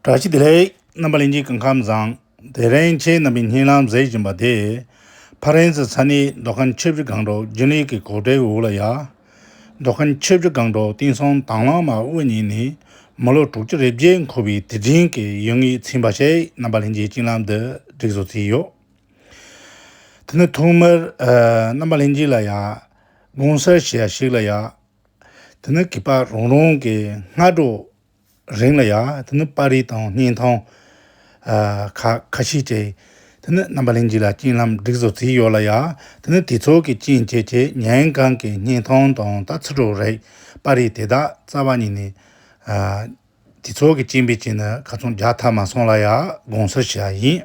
བཀྲ་ཤིས་བདེ་ལེགས། རྣམ་པ་ལེན་གྱི་སྐུ་ཁམས་བཟང། དེ་རིང་ཁྱེད་རྣམ་པའི་སྙིང་ལམ་མཛེས་བཞིན་པ་དེ། ཕ་རན་སི་ས་གནས་མདོ་ཁམས་ཆུ་བཞི་སྒང་དྲུག་རྒྱུན་ལས་ཀྱི་གོག་སྒྲའི་འུར་ལ་ཡ། མདོ་ཁམས་ཆུ་བཞི་སྒང་དྲུག་བསྟན་སྲུང་དྭངས་བླངས་མ་དབུ་བརྙེས་ནས་མི་ལོ་དྲུག་ཅུ་རེ་བརྒྱད་འཁོར་བའི་དུས་དྲན་གྱི་ཡུལ་ངེས་ཚན་པ་ཞིག་རྣམ་པ་ལྷན་རྒྱས་སྤྱན་ལམ་དུ་བསྒྲིགས་བཟོ་བྱས་ཡོད། དེ་ནི་ཐོག་མར། རྣམ་པ་ལྷན་རྒྱས་ལ་ཡ། དགོངས་གསལ་བྱས་ཡ་ཞིག་ལ་ཡ། དེ་ནི་གུས་པ་རང་རང་གི་སྔ་དྲོ། རིང་ལ་ཡང་དེ་ནི་པར་རིས་དང་བརྙན་ཐུང་ཁ་ཤས་བྲིས། དེ་ནི་རྣམ་པ་གླིང་བཞི་ལ་རྐྱེན་ལམ་སྒྲིག་བཟོ་རྩིས་ཡོད་ལ་ཡང་དེ་ནི་དེ་ཚོ་གི་རྐྱེན་བྱས་ཀྱི་ཉན་གང་གི་བརྙན་ཐུང་དང་ལྟ་ཚུལ་དྲུག་རེད། པར་རིས་དེ་དག་རྩ་བ་ཉིད་ནས་དེ་ཚོ་གི་རྐྱེན་པས་བྱས་ན་ག་ཚོད་རྒྱག་ཐབས་མ་སོང་ལ་ཡང་དགོངས་སུ་བཞག་ཡིན།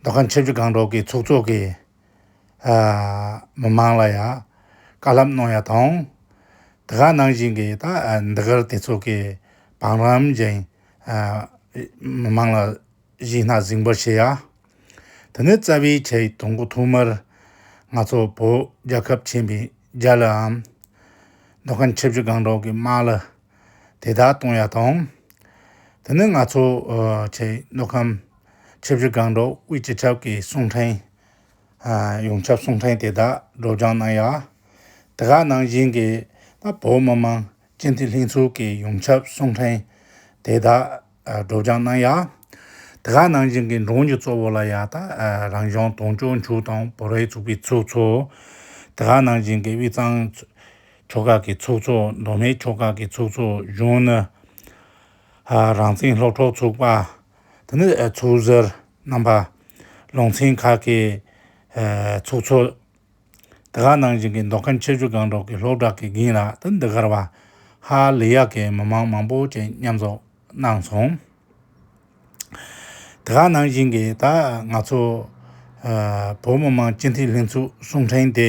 མདོ་ཁམས་ཆབ་སྲིད་སྒང་དྲུག་གི་ཚོགས་གཙོ་གིས་མི་མང་ལ་ཡང་བཀའ་ལབ་གནང་ཡ་དང། དེ་ག་ནང་བཞིན་གི་ད་འདི་གར་དེ་ཚོ་གི་བང་རམ་བཞིན་མི་མང་ལ་གཞིས་སྣ་ཟིང་པར་བྱེད་ཡ། དེ་ནི་རྩ་བའི་ཆེད་དུང་གོ་ཐོག་མར་ང་ཚོ་བོད་རྒྱལ་ཁབ་ཆེན་པོའི་རྒྱ་ལའམ་མདོ་ཁམས་ཆབ་སྲིད་སྒང་དྲུག་གི་དམག་ལ་དེ་དག་གཏོང་ཡ་དང། དེ་ནས་ང་ཚོ་ཆེ་མདོ་ཁམས་ཆུ་བཞི་སྒང་དྲུག་དབུས་སྤྱི་ཁྱབ་ཀྱི་གསུང་འཕྲིན། ཡོངས་ཁྱབ་གསུང་འཕྲིན་དེ་དག་སྒྲོག་སྦྱང་གནང་ཡ། དེ་ག་ནང་བཞིན་གྱི་བོད་མི་མང་སྤྱི་འཐུས་ལྷན་ཚོགས་ཀྱི་ཡོངས་ཁྱབ་གསུང་འཕྲིན་དེ་དག་སྒྲོག་སྦྱང་གནང་ཡ། དེ་ག་ནང་བཞིན་གྱི་འབྲོང་གྱི་གཙོ་བོ་ལ་ཡ་ད་རང་བྱོན་དོང་ཅོག་མཇུག་དང་བོ་རའི་ཚུགས་པའི་ཚོགས་གཙོ། དེ་ག་ནང་བཞིན་གྱི་དབུས་གཙང་ཕྱོགས་ཁག་གི་ཚོགས་གཙོ་མདོ་སྨད་ཕྱོགས་ཁག་གི་ཚོགས་གཙོ་གཞོན་ནུ། རང་བཙན་སློབ་གྲོགས་ཚོགས་པ། དེ་ནི་ཚོགས་གཟེར་རྣམ་པ། ལུང་ཚན་ཁག་གི་ཚོགས་གཙོ། འདི་ག་ནང་བཞིན་གྱི་མདོ་ཁམས་ཆེ་ཆུང་གང་དྲུག་གི་སློབ་གྲྭ་གི་འགན་ལག་ཏུ་འདི་གར་བ་ཧ་ལི་ཡ་གི་མི་མང་མང་པོ་བཅས་མཉམ་འཛོམས་གནང་སོང། འདི་ག་ནང་བཞིན་གྱི་ད་ང་ཚོ་བོད་མི་མང་སྤྱི་འཐུས་ལྷན་ཚོགས་གསུང་འཕྲིན་དེ།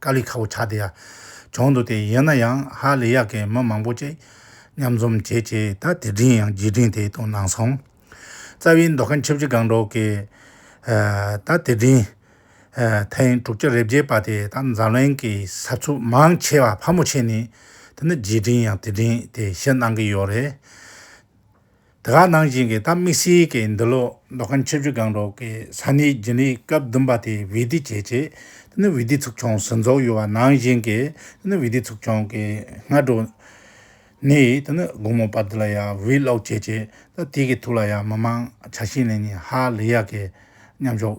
དཀའ་ལས་ཁག་པོ་ཆགས་དེ་ཡང་བྱུང་འདུག་དེ་ཡིན་ན་ཡང་ཧ་ལས་ཡག་གི་མི་མང་པོ་ཅིག་མཉམ་འཛོམས་བྱེད་ཆེད་ད་དེ་དྲིན་ཡང་རྗེས་དྲིན་དེ་དང་ནང་སོང་རྩ་བའི་མདོ་ཁམས་ཆབ་སྲིད་སྒང་དྲུག་གི་ད་དེ་དྲིན་ཐེངས་དྲུག་ཅུ་རེ་བརྒྱད་པ་དེ་ད་འཛམ་གླིང་གི་ས་ཚུགས་མང་ཆེ་བ་ཕལ་མོ་ཆེ་ནས་དེ་ནི་རྗེས་དྲིན་ཡང་དེ་དྲིན་དེ་ཞིག་གནང་གི་ཡོད་རེད། དེ་ག་ནང་བཞིན་གྱི་ད་དམིགས་བསལ་གྱི་འདི་ལོ་མདོ་ཁམས་ཆུ་བཞི་སྒང་དྲུག་གི་ས་གནས་རྒྱུན་ལས་སྐབས་བདུན་པ་དེ་བྷི་བྷི་ཇེ་ཇེ། དེ་ནི་བྷི་བྷི་ཚུགས་ཆུང་ཟིན་ཚོགས་ཡོད་པ་ནང་བཞིན་གྱི་དེ་ནི་བྷི་བྷི་ཚུགས་ཆུང་གི་སྔ་དྲོ། ནས་དེ་ནི་དགོང་མོ་བར་དེ་ལ་ཡང་བྷི་བྷི་ཀློག་བྱེད་བྱེད་ད་དེ་གི་ཐུགས་ལ་ཡང་མི་དམངས་བྱ་བྱེད་ནས་ནི་ཧ་ལས་ཡག་གི་མཉམ་ཞོག།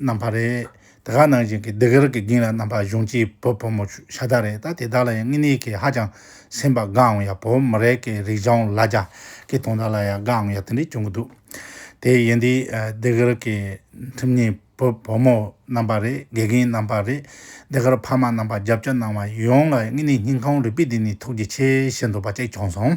རྣམ་པ་རེད། དེ་ག་ནང་བཞིན་གྱི་འདི་གར་གྱི་རྒྱིང་ལ་རྣམ་པ་གཞུང་སྐྱེས་བུ་ཕོ་མོ་ཤ་སྟག་རེད་ད་དེ་དག་ལ་ཡང་དངོས་གནས་ཀྱི་ཧ་ཅང་སེམས་པ་དགའ་འམ་ཡ་བོད་མི་རེད་ཀྱི་རིག་འབྱུང་ལ་རྒྱ་ཀྱི་དོན་དག་ལ་ཡང་དགའ་འམ་ཡ་དེ་འདྲས་བྱུང་གི་འདུག་དེ་ཡིན་དུས་འདི་གར་གྱི་ཁྲིམས་གཉིས་བུ་ཕོ་མོ་རྣམ་པ་རེད་དགེ་རྒན་རྣམ་པ་རེད་འདི་གར་ཕ་མ་རྣམ་པ་རྒྱབ་སྐྱོར་གནང་བ་ཡོངས་ལ་དངོས་གནས་སྙིང་ཁོང་རུས་པས་བདེ་ནས་ཐུགས་རྗེ་ཆེ་ཞུ་འདོད་པ་གཅིག་བྱུང་སོང།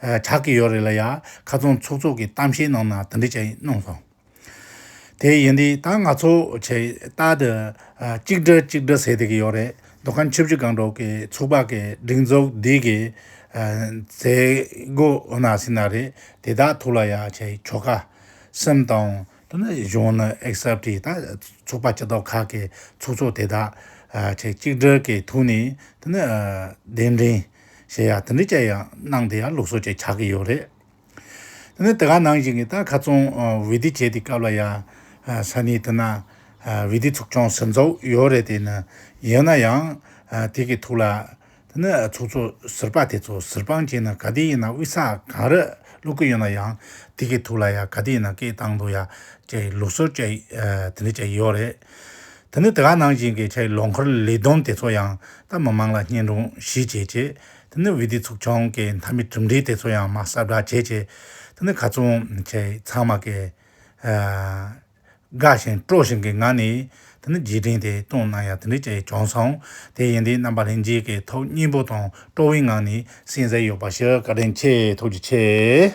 གྲགས་ཀྱི་ཡོད་རེད་ལ་ཡ། ཁ་ཚོན་ཚུགས་ཚུགས་ཀྱི་གཏམ་བཤད་གནང་ན་དེ་འདྲས་ཅིག་གནང་སོང། དེ་ཡིན་དུས་ད་ང་ཚོ་ཆེ་རྟགས་དེ་གཅིག་སྒྲིལ་གཅིག་སྒྲིལ་ཟེར་དེ་གི་ཡོད་རེད་འདུག་ག་ཆུ་བཞི་སྒང་དྲུག་གི་ཚུགས་པ་གི་སྒྲིག་འཛུགས་འདི་གི་མཛད་སྒོ་འོ་ན་སྲིད་ན་རེད་དེ་དག་ཐུགས་ལ་ཡ་ཆེ་ཆོ་ག་སེམས་དང། དེ་ནས་གཞུང་ནི་ཨེག་སབ་ཀྱི་ད་ཚོགས་པ་སྤྱི་ཚོགས་ཁག་གི་ཚོགས་གཙོ་དེ་དག་ཆེ་གཅིག་སྒྲིལ་གྱི་ཐུགས་ནས་དེ་ནི་གདན་འདྲེན། གཞན་ཡང་དེ་འདྲའི་དཔྱད་ཡག་གནང་དེ་ཡང་ལུགས་སྲོལ་བཅས་ཆགས་ཀྱི་ཡོད་རེད། དེ་ནས་དེ་ག་ནང་བཞིན་གྱི་ད་ཁ་ཙོང་བི་དི་བྱས་དེ་སྐབས་ལ་ཡང་ས་ནི་དེ་ན་བི་དི་ཚོགས་ཆུང་ཟེར་ཚོགས་ཡོད་རེད་དེ་ནི་ཡིན་ན་ཡང་དེ་གི་ཐུགས་ལ་དེ་ནི་ཚོགས་ཚོ་ཟེར་པ་དེ་ཚོ་ཟེར་པང་ཅན་ནི་ག་དེ་ཡིན་ན་དབུས་ས་གངས་རི་ཀླུ་ཀི་ཡོད་ན་ཡང་དེ་གི་ཐུགས་ལ་ཡང་ག་དེ་ཡིན་ན་སྐད་བཏང་འདུག་ཡ་བཅས་ལུགས་སྲོལ་བཅས་དེ་འདྲའི་བཅས་ཡོད་རེད། ད་ནི་དེ་ག་ནང་བཞིན་གྱི་ཆའི་ལོ་འཁོར་ལས་བསྡོམས་དེ་ཚོ་ཡང་ད་མི་མང་ལ་བསྙེན་རུང་ཞིག་བྱེད་ཅེས་ད་ནི་བི་དི་ཚུགས་ཆུང་གི་མཐའ་མི་གྲུབ་འབྲས་དེ་ཚོ་ཡང་མ་གསར་བསྒྲགས་བྱེད་ཅེས་ད་ནི་ག་ཚུང་ཆའི་ཚང་མ་གི། དགའ་ཞིང་སྤྲོ་བཞིན་གྱི་ངང་ནས་ད་ནི་རྗེས་དྲན་དེ་གཏོང་གནང་ཡ་དེ་འདྲའི་ཆའི་བྱུང་སོང་དེ་ཡིན་དེ་རྣམ་པ་ལྷན་སྐྱེས་ཀྱི་ཐོག་སྙིང་པོ་དང་སྤྲོ་བའི་ངང་ནས་གསན་གསལ་ཡོད་པ་ཞིག་བཀའ་དྲིན་ཆེ་ཐུགས་རྗེ་ཆེ།